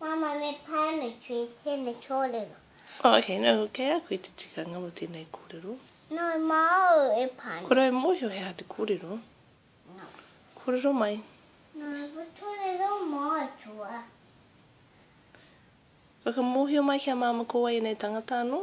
Mama, me pānui ki tēnei kōrero. Ok, nō kei a koe te tikanga mō tēnei kōrero? Nō māu e pānui. Kua rae mōhio he aha te kōrero? Nō. Kōrero mai. Nō aua kōrero mātua. Whakamōhio mai kia māmā ko wai ēnei tangata anō?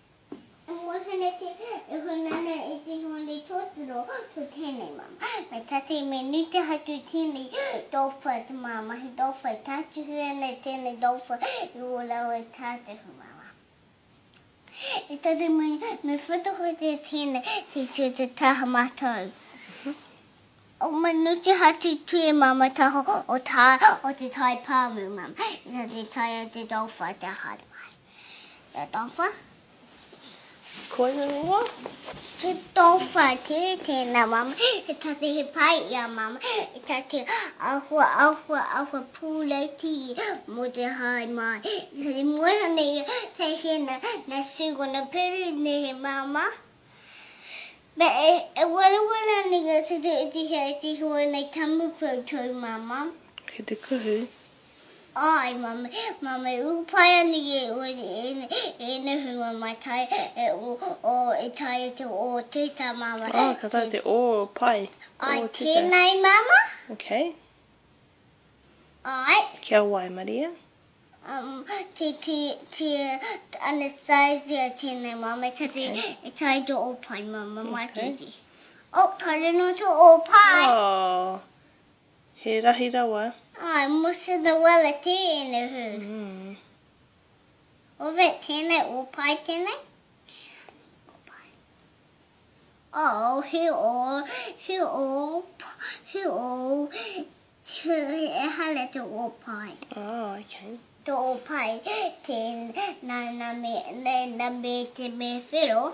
Moheneti e hono ana e te hone totoro to tenei mama, me tatei me nute hatu tenei dolpha to ma mahi dolpha e tatuhi ana e tenei dolpha i o lau e tatuhi mama. E tatei me me whata hote tenei te sio te taha matou. O me nute hatu tue mama taho o ta o te tai pamu mama, e tatei taia te dolpha te hare mai. Te tawha. Koina noa. Te tawha te tēnā mama. He tate he pai i a mama. He tate ahua ahua ahua pūreiti mō te hae mai. He moeha nei te hina na Sue gonna pere nei he mama. Me e warawara nei ngā tate e tihea e te hoa nei tamu koutou mama. Ki te kuhu. Ai, mame, mame u pai ani ki enei hunga mai tai e u o e tai e te o te ta mama. Oh, ka tai te o pai. Ai, tena i mama. Okay. Ai. Kia wai, Maria? Um, te, te, te, Anastasia, tena i mama, ta te, e tai te o pai mama, mai okay. te te. Oh, tare no te o pai. Oh, He rahi rawa. I must in the well a tēnei hū. Owe tēnei, o pai tēnei. Ko pai. Oh, he o, he o, he o, he hale te o pai. Oh, okay. Te o pai, te na, na me, na, na me te me whiro.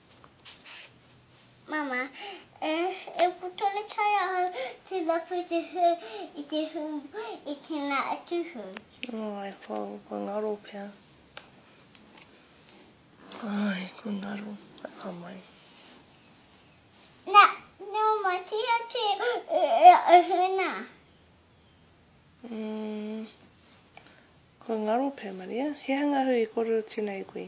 Mama, e, e ko tonu tae ahau te rapu i te hū, i te hū, i tēnā atu hū. Ai, ko, ko ngaro pea. Ai, ko ngaro, ai ka mai. Na, no matia te e, e, e hūna. Mm, ko ngaro pea, Maria. He hanga hū i kōrero tina e koe.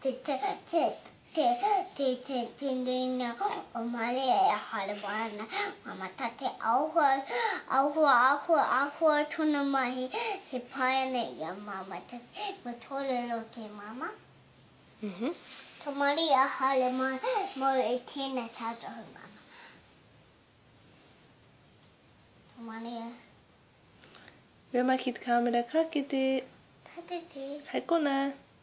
Te tereina o Maria e harua ana, Ngā mata te āhua, āhua, āhua, āhua tōna mahi, he pai ana i a Māmā te whenua tōrero o te Māmā. Tō Maria haere mau e tēnei tātohu Māmā. Tō Maria. Where am I ki te kāmera ka kete. Ka kete. Hai konā.